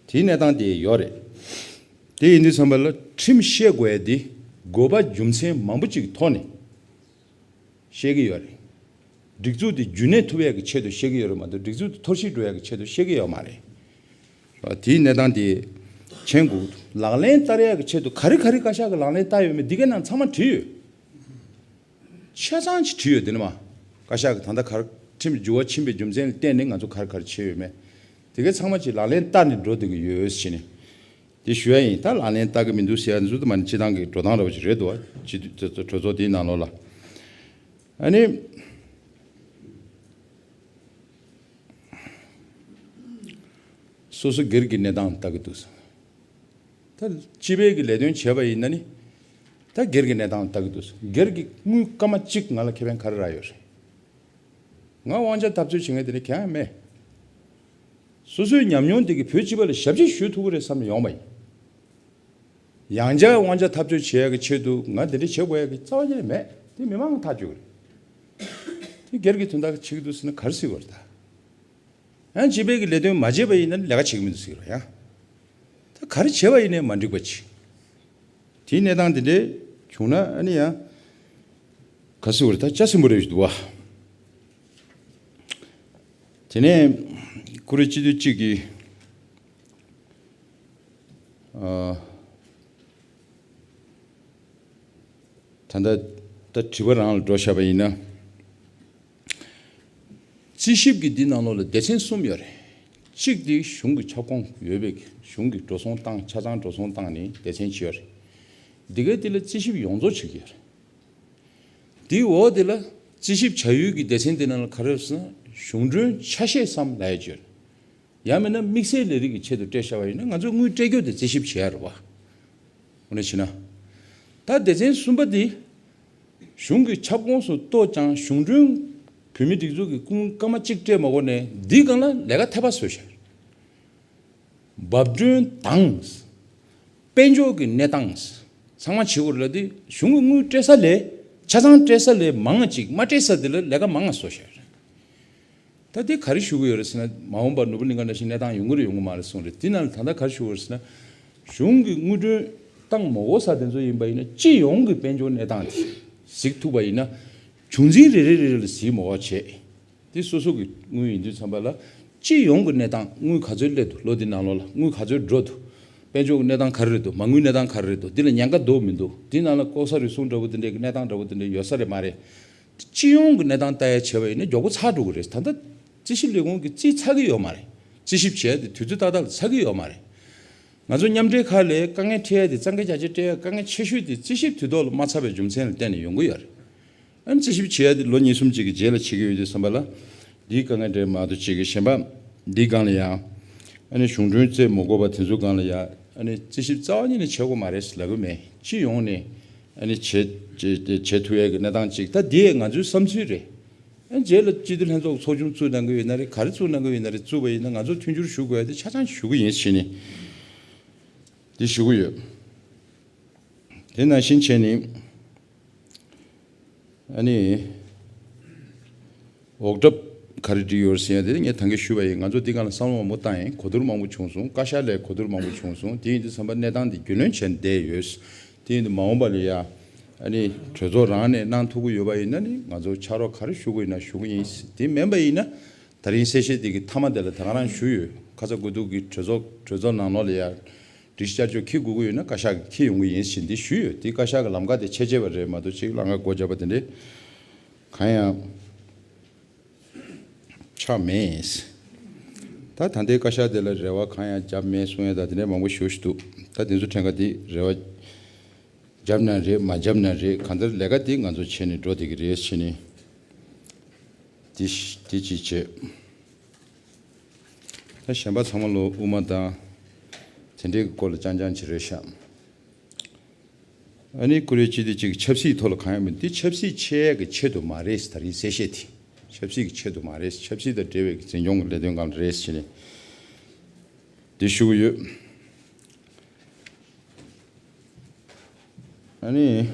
དེའི་གནས་སྟང་དེ་ཡོར་རེད། དེ་ཡིན་དུས་ཚང་པ་ལ་ཁྲིམས་ཤེས་དགོས་ཡ་དེ་དགོས་པ་རྒྱུ་མཚན་མང་པོ་ཅིག་ཐོག་ནས་ཤེས་གི་ཡོར་རེད། སྒྲིག་འཛུགས་དེ་རྒྱུན་གནས་ཐུབ་ཡ་གི་ཆེད་དུ་ཤེས་གི་ཡོར་རེད་མ་གཏོགས་སྒྲིག་འཛུགས་དེ་འཐོར་ཤིག་འགྲོ་ཡ་གི་ཆེད་དུ་ཤེས་གི་ཡོར་མ་རེད། དེའི་གནས་སྟང་དེ་མཆན་སྒུག་ལག་ལེན་བསྟར་ཡ་གི་ཆེད་དུ་ག་རེ་ག་རེ་བཀའ་ཤག་གི་ལག་ལེན་བསྟར་ཡོར་མེད་དེ་གའི་ནང་ཚང་མ་བྲིས་ཡོར། ཆ་ཚང་ཞིག་བྲིས་ཡོད་དེ་ནི་མ་བཀའ་ཤག་གི་ད་ལྟ་གར་ཁྲིམས་བསྒྱུར་བ་ཕྱིན་པའི་རྒྱུ་མཚན་ལ་བརྟེན་ནས་ང་ཚོ་གར་གར་བྱས་ཡོད་མེད་དེ་གའི་ཚང་མ་གྱིས་ལག་ལེན་བསྟར་ནས་འགྲོ་འདོད་ཀྱི་ཡོད་ཟེར་ནས་དེ་ཞུ་ཡ་ཡིན་ད་ལག་ལེན་བསྟར་གི་མི་འདུག་ཟེར་ཡ་འཛུལ་དུ་མ་ནི་སྤྱི་བཏང་གི་འགྲོ་སྟངས་ར་བ་ཞིག་རེད་འདུག་བ་སྤྱི་འཐུས་ཚོས་གྲོས་ཚོགས་དེའི་ནང་ལོགས་ལ་ཨ་ནི། སོ་སོ་སྒེར་གྱི་གནས་སྟངས་བལྟ་གི་འདུག་ཟེར། ད་སྤྱི་བེད་ཀྱི་ལས་དོན་བྱས་པ་ཡིན་ན་ནི། ད་སྒེར་གྱི་གནས་སྟངས་ལ་ལྟ་གི་འདུག་སྒེར་གྱི་དངུལ་སྐར་མ་གཅིག་ང་ལ་ཁེ་ཕན་ག་རེ་རག་ཡོད་རེད། ང་དབང་ཆ་འཐབ་རྩོད་བྱེད་མཁན་དེ་འདྲ་གང་ཡང་མེད། སོ་སོའི་ཉམས་མྱོང་དེ་གིས་བོད་སྤྱི་པ་ལ་ཞབས་ཕྱི་ཞུ་ཐུབ་ཀི་རེད་བསམ་ནས་ཡོང་པ་ཡིན། ཡང་བསྐྱར་དབང་ཆ་འཐབ་རྩོད་བྱེད་ཡག་གི་ཆེད་དུ་ང་དེ་འདྲ་བྱེད་དགོས་ཡག་གི་རྩ་བ་ཅི་ནས་མེད་དེ་མི་མང་ཐག་གཅོད་གི་རེད། དེ་སྒེར་གྱི་དོན་དག་བྱེད་ཀི་འདུག་ཟེར་ན་ག་རེ་སྲིད་བར་ད། ཡང་བྱེད་པའི་གི་ལས་དོན་མ་བྱས་པ་ཡིན་ན་ལས་ཀ་བྱེད་གི་མི་འདུག་ཟེར་རོ་ཡང། ད་ག་རེ་བྱས་པ་ཡིན་ནས་མ་འགྲིག་པ་ཅི། དེའི་གནས་སྟངས་དེ་འདྲའི་བྱུང་ན་ཨ་ནི་ཡང། ག་སུ་བར་ད་ཅག་སེམས་པོ་རེད་བཞིན་འདུག་བ། དེ་ནས་ཀུ་རེ་སྤྱི་འཐུས་གཅིག་གིས། ད་ལྟ་ད་དྲི་བ་རང་ལ་འགྲོ་བཞག་པ་ཡིན་ན། རྩིས་ཞིབ་ཀྱི་འདི་ནང་ལོགས་ལ་སྡེ་ཚན་གསུམ་ཡོད་རེད། གཅིག་དེ་གཞུང་གི་ཁྱབ་ཁོངས་ཡོད་པའི་གཞུང་གི་འགྲོ་སོང་སྟངས་ཆ་ཚང་འགྲོ་སོང་སྟངས་ནི་སྡེ་ཚན་བྱེད་རེད། འདི་གའི་དེ་ལ་རྩིས་ཞིབ་ཡོངས་རྫོགས་བྱེད་ཀྱི་ཡོད་རེད། དེའི་འོག་དེ་ལ་རྩིས་ཞིབ་བྱ་ཡུལ་གྱི་སྡེ་ཚན་དེ་ནང་ལ་ག་རེ་ཡོད་ཟེར་ན་གཞུང་གྲོན་ཆ་ཤས་སམ་ལ་ཡ་བྱེད་རེད། ཡང་མིན་ན་དམིགས་བསལ་ལས་རིགས་ཀྱི་ཆེད་དུ་སྤྲད་བྱ་བ་ཡིན་ན་ང་ཚོས་དངུལ་སྤྲད་རྒྱུ་དེ་རྩིས་ཞིབ་བྱེད་ཡ་རེད་བ། འོ་ན་བྱེད་ན། ད་སྡེ་ཚན་གསུམ་པ་དེ། གཞུང་གི་ཁྱབ་ཁོངས་སུ་གཏོགས་ཀྱང་གཞུང་གྲོན། བོད་མིའི་སྒྲིག་འཛུགས་ཀྱི་ཀུན་དགའ་མ་གཅིག་སྤྲད་མ་གོ་ནས་འདིའི་སྒང་ལ་ལས་ཀ་ཐེ་པ་བཟོས་ཤར། འབབ་སྒྲོན་དང། དཔལ་འབྱོར་གྱི་གནས་སྟངས། ཚང་མ་བྱེད་གོ་རེ་ལ་དེ་གཞུང་གི་དངུལ་སྤྲད་ས་ལས་ཆ་ཚང་སྤྲད་ས་ལས་མང་ང་ཅིག་མ་སྤྲད་ས་དེ་ལ་ལས་ཀ་མང་ང་བཟོ་ཤར། ད་ལྟའི་ག་རེ་ཞུ་གི་ཡོད་རེད་ཟེར་ན། མ་འོངས་པར་ནོར་བུ་གླིང་ག་འདྲ་ཞིག་གནས་སྟངས་ཡོང་གི་རེད་ཡོང་གི་མ་རེད་གསུངས་རེད་དེས་ན་ད་ལྟ་ག་རེ་ཞུ་གི་ཡོད་ཟེར་ན། གཞུང་གི་དངུལ་གྲོན་སྟངས་མོ་འོ་ས་དེ་ཚོ་ཡིན་པ་ཡིན་ན་སྤྱི་ཡོངས་ཀྱི་དཔལ་འབྱོར་གནས་སྟངས་དེ་གཟིགས་ཐུབ་པ་ཡིན་ན། བྱུང་འཛིན་རེ་རེ་རེ་རེ་ལ་གཟིགས་མོ་བ་བྱས་ཏེ་སོ་སོ་གི་དངུལ་ཡིན་དུས་འཚམ་པ་ལ། སྤྱི་ཡོངས་ཀྱི་གནས་སྟངས་དངུལ་ག་ཚོད་སླེབས་འདུག་ལོ་འདི་ནང་ལོགས་ལ་དངུལ་ག་ཚོད་འགྲོ་འདུག་དཔལ་འབྱོར་གྱི་གནས་སྟངས་ག་རེ་རེད་འདུག་མ་དངུལ་གནས་སྟངས་ག་རེ་རེད་འདུག་འདི་ལ་ཉེན་ཁ་འདུག་མི་འདུག་དེས་ན་ལ་ལྐོག་ཟ་རུལ་སུངས་འདྲ་བོ་འདི་འདྲའི་གནས་སྟངས་འདྲ་བོ་འདི་འདྲ་ཡོད་ས་རེད་མ་རེད། སྤྱི་ཡོངས་ཀྱི་གནས་སྟངས་ལྟ་ཡ་བྱས་པ་ཡིན་ན་མགྱོགས་པོ་ཚགས་འགྲོ་གི་རེད། ད་ལྟ་རྩིས་ཞིབ་ལས་ཁུངས་ཀྱིས་རྩིས་ཚགས་ཀྱི་ཡོད་མ་རེད། རྩིས་ཞིབ་བྱས་ཏེ་དུས་ཚོད་ཏག་ཏག་ལ་ཚགས་ཀྱི་ཡོད་མ་རེད། ང་ཚོ་མཉམ་འབྲེལ་ཁག་ལས་དཀའ་ངལ་འཕྲད་ཡ་དེ་གཙང་ཁེ་རྒྱ་ཆེར་སྤྲད་ཡ་དཀའ་ངལ་ཆེ་ཤོས་དེ་རྩིས་ཞིབ་དུས་ཐོག་ལ་མ་ཚགས་པའི་རྒྱུ་མཚན་ལ་བརྟེན་ནས་ཡོང་གི་ཡོད་རེད། ཨ་རྩིས་ཞིབ་བྱས་ཡ་དེ་ལོ་གཉིས་གསུམ་གཅིག་གི་རྗེས་ལ་བྱེད་ཀྱི་ཡོད་དུས་བསམ་པ་ལ། འདིའི་དཀའ་ངལ་འདྲེས་མ་ཏོ་བྱེད་ཀྱི་གཞན་པ་འདིའི་སྒང་ལ་ཡ། ཨ་ནི་གཞུང་གྲོན་རྩེད་མོ་བསྐོར་བ་དེ་ཚོའི་སྒང་ལ་ཡ། ཨ་ནི་རྩིས་ཞིབ་རྩ་བ་ཉིད་ནས་བྱེད་དགོས་མ་རེད་ཟེར་ལབ་ཀྱི་མེད། སྤྱི་ཡོངས་ནས། ཨནི་བྱེད་ཐུ་ཡའི་གི་གནས་སྟངས་གཅིག་ད་འདི་ང་ཚོའི་བསམ་ཚུལ་རེད་ཨ་རྗེས་ལ་སྤྱི་འཐུས་ལྷན་ཚོགས་ཚོགས་ཆུང་བཙུགས་གནང་གི་ཡོད་ན་རེད་ག་རེ་བཙུགས་གནང་གི་ཡོད་ན་རེད་བཙུགས་པ་ཡིན་ན་ང་ཚོ་མཐུན་འགྱུར་ཞུ་དགོས་ཡ་དེ་ཆ་ཚང་ཞུ་གི་ཡིན་ཕྱིན་ནི་དེ་ཞུ་གི་ཡོད། དེ་ནང་བཞིན་བྱས་ནི་ཨ་ནི། འོག་གྲབ། ག་རེ་འབྲི་ཡོད་ཟེར་ཡང་དེ་ནི་ངས་ཐང་གིས་ཞུས་པ་ཡིན་ང་ཚོ་འདི་ག་ལ་བསམ་བློ་མང་པོ་བཏང་ཡིན་གོ་བསྡུར་མང་པོ་བྱུང་སོང་བཀའ་ཤག་ལས་གོ་བསྡུར་མང་པོ་བྱུང་སོང་དེ་ཡིན་དུས་བསམ་པ་གནས་སྟངས་འདི་རྒྱུས་ལོན་བྱས་ནས་བསྡད་ཡོད། དེ་ཡིན་དུས་མ་འོངས་པ་ལ་ཡ། ཨ་ནི་གྲོས་ཚོགས་རང་ནས་གནང་ཐུབ་ཀྱི་ཡོད་པ་ཡིན་ན་ནི་ང་ཚོ་ཕྱག་རོགས་ག་རེ་ཞུ་དགོས་ཡིན་ན་ཞུ་གི་ཡིན་དེ་མིན་པ་ཡིན་ན། ད་རིང་གསལ་བཤད་དེ་གི་མཐའ་མ་དེ་ལ་ད་ག་རང་ཞུས་ཡོད་ཁ་ཚ་དགོས་གཏུགས་གི་གྲོས་ཚོགས་གྲོས་ཚོགས་ནང་ནོར་ལ་ཡ། སྒྲིག་གཞི་བསྐྱར་བཅོས་ཁི་དགོས་ཀྱི་ཡོད་ན་བཀའ་ཤག་གིས་ཁི་ཡོང་གི་ཡིན་ཞེས་འདི་ཞུས་ཡོད་དེ་བཀའ་ཤག་གི་ལམ་ཁ་དེ་ཆད་ཆད་པ་རེད་མ་གཏོགས་ཅིག་ལ་ང་སྒོ་བརྒྱབ་པ་དེ་འདྲས། གང་ཡང་ཆགས་མེད། ད་ད་ལྟའི་བཀའ་ཤག་དེ་ལ་རེ་བ་གང་ཡང་བརྒྱབ་མེད་གསུང་ཡ་ད་དེ་འདྲའི་མང་པོ་ཞུ་བཞིན་འདུག་ད་དེ་ཚོ་ཕྲན་ག་དེ་རེ་བ་བརྒྱབ་ན་རེད་མ་བརྒྱབ་ན་རེད་གང་ལྟར་ལས་ཀ་དེ་ང་ཚོ་བྱེད་ནས་འགྲོ་དེ་གི་རེད་ཕྱིན་ནས་དེ་དེ་ཅིག་བྱེད། ད་གཞན་པ་ཚང་མ་ལོ་དབུ་མ་དང་དེ་འདྲའི་གི་སྐོར་ལ་རྐྱང་རྐྱང་བྱེད་རེད་ཤག། ཨ་ནི་ཀུ་རེ་སྤྱི་བདེ་ཅིག་ཆབ་སྲིད་ཐོག་ལ་གང་ཡང་མི་འདུག་དེ་ཆབ་སྲིད་ཆེད་ཀྱི་ཆེད་དུ་མ་རེད་ཟེར་ད་རིང་གསལ་བཤད་དེ་ཆབ་སྲིད་ཀྱི་ཆེད་དུ་མ་རེད་ཆབ་སྲིད་དང་འབྲེལ་བའི་འཛིན་སྐྱོང་གི་ལས་དོན་གང་རེད་ཟེར་ནས་དེ་ཞུ་གི་ཡོད། ཨ་ནི།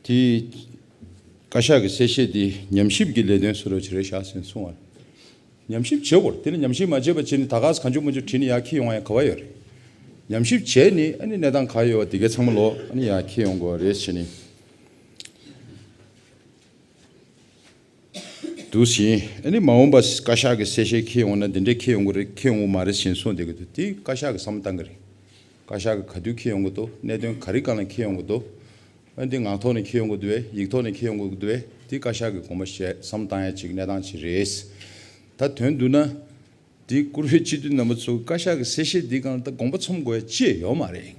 དེས་བཀའ་ཤག་གི་གསལ་བཤད་དེ་ཉམས་ཞིབ་ཀྱི་ལས་དོན་སུ་རོལ་བྱེད་རེད་བཞག་ཟིན་སོང་བར། ཉམས་ཞིབ་བྱེད་དགོས་རེད་དེ་ལ་ཉམས་ཞིབ་མ་བྱས་པར་སྤྱིར་ནི་ད་གགས་སུ་གང་བྱུང་མ་བྱུང་བྲིས་ནས་ཡར་འཁྱིལ་ཡོང་ཡང་ག་བ་ཡོད་རེད། ཉམས་ཞིབ་བྱས་ནས་ཨ་ནི་གནས་སྟངས་ག་ཡོད་བ་དེ་གའི་ཚང་མ་ལོག་ཨ་ནི་ཡར་འཁྱིལ་ཡོང་དགོས་བ་རེད་བྱས་ནས། འདུག་ཟིན། ཨ་ནི་མ་འོངས་པ་བཀའ་ཤག་གི་གསལ་བཤད་ཁེལ་ཡོང་ན་འདི་འདྲས་ཁེལ་ཡོང་གི་རེད་ཁེལ་ཡོང་གི་མ་རེད་ཟིན་གསུངས་བསྡད་ཀྱི་འདུག་དེ་བཀའ་ཤག་གི་བསམ་བློ་བཏང་གི་རེད། བཀའ་ཤག་གི་ག་དུས་ཁེལ་ཡོང་གི་འདུག་གནད་དོན་ག་རིགས་གང་ལ་ཁེལ་ཡོང་གི་འདུག་འོན་ཏེ་ངག་ཐོག་ནས་ཁེལ་ཡོང་གི་འདུག་བས་ཡིག་ཐོག་ནས་ཁེལ་ཡོང་གི་འདུག་བས་དེ་བཀའ་ཤག་གི་དགོངས་པ་བཞེས་བསམ་བཏང་ཡ་གཅིག་གནས་སྟངས་གཅིག་རེད། ད་དོན་བསྡུ་ན། དེ་བཀུར་འོས་སྤྱི་འཐུས་རྣམ་པ་ཚོ་གི་བཀའ་ཤག་གི་གསལ་བཤད་འདི་གང་ལ་ད་དགོངས་པ་ཚོམ་དགོས་ཡ་ཅི་ཡ་ཡོད་མ་རེད།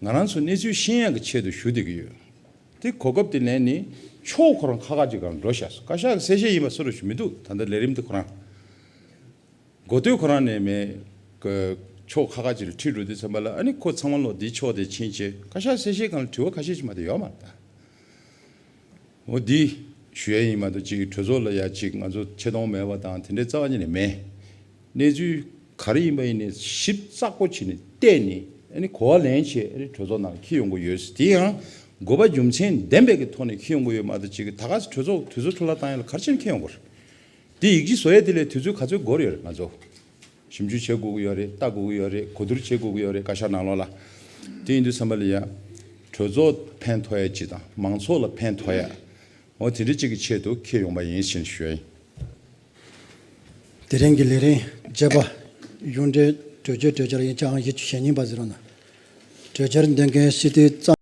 ང་རང་ཚོ་གནས་ཚུལ་ཤེས་ཡོན་གྱི་ཆེད་དུ་ཞུ་བསྡད་ཀྱི་ཡོད། དེ་གོ་སྐབས་དེ་ནས་ནི་ཕྱོགས་ཁོ་རང་ཁ་ཁ་ཅིག་གང་འགྲོ་བཞག་སོང་བཀའ་ཤག་གི་གསལ་བཤད་ཡིན་པ་སོ་རུ་ཞུ་མི་འདུག་ད་ལྟ་ལས་རིམ་དེ་ཁོ་རང་མགོ་སྟོད་ཁོ་རང་ནས་མེད། ཕྱོགས་ཁ་ཁ་ཅིག་ལ་ཁྲིད་འགྲོ་དུས་ཚང་མ་ལ་ཨ་ནི་ཁོ་ཚང་མ་ལོ་དེའི་ཕྱོགས་དེ་ཕྱིན་རྗེས་བཀའ་ཤག་གསལ་བཤད་གང་ལ་དྲི་བ་ཁ་ཤས་ཤིག་མ་དེ་ཡོད་མ་རེད་ད། འོ་འདི་ཞུ་ཡ་ཡིན་མ་གཏོགས་གཅིག་གྲོས་ཚོགས་ལ་ཡ་གཅིག་ང་ཚོ་ཆེ་མཐོང་མེད་པ་དང་དེ་འདྲའི་རྩ་བ་ཉིད་ནས་མེད། གནས་ཚུལ་ག་རེ་ཡིན་པ་ཡིན་ནས་ཞིབ་ཚགས་པོ་བྱས་ནས་བལྟས་ནས་ཨ་ནི་གོ་བ་ལེན་ཆེད་ཨ་རིའི་གྲོས་ཚོགས་ནང་ཁྱི་ཡོང་གི་ཡོད་དེ་ཡང་དགོས་པ་རྒྱུ་མཚན་ལྡན་པའི་ཀྱི་ཐོག་ནས་ཁྱི་ཡོང་གི་ཡོད་མ་གཏོགས་གཅིག་ད་ག་གྲོས་ཚོགས་དུས་ཚོད་འཕྲོ་བརླག་བཏང་ཡོད་ལ་གར་ཕྱིན་ཁྱི་ཡོང་གི་རེད། དེ་ཡིག་གཅིག་བཟོ་ཡ་དེ་ལས་དུས་ཚོད་ག་ཚོད་འགོར་ཡོད་རེད་ང་ཚོ། ཞིབ་འཇུག་བྱེད་དགོས་ཀྱི་ཡོད་རེད་ལྟ་དགོས་ཀྱི་ཡོད་རེད་གོ་བསྡུར་བྱེད་དགོས་ཀྱི་ཡོད་རེད་བཀའ་ཤག་ནང་ལོགས་ལ། དེ་ཡིན་དུས་སེམས་པ་ལ་ཡ། གྲོས་ཚོགས་ཕན་ཐོགས་ཡ་ཅི་དང་མང་ཚོགས་ལ་ཕན་ཐོགས་ཡ། འོ་དེ་འདྲ་གཅིག་གི་ཆེད་དུ་ཁེལ་ཡོང་པ་ཡིན་ཕྱིན་བཤོལ། དེ་རིང་གི་ལས་རིང་བརྗེ་པ། གཞུང་འབྲེལ་གྲོས་ཆོད་གྲོས་འཆར་ཡིན་ཆའང་གཞི་གཅིག་ཞེ་གཉིས་པ་ཟེར་བ་ན། གྲོས་འཆར་འདོན་མཁན་སྤྱི་འཐུས་གཙང།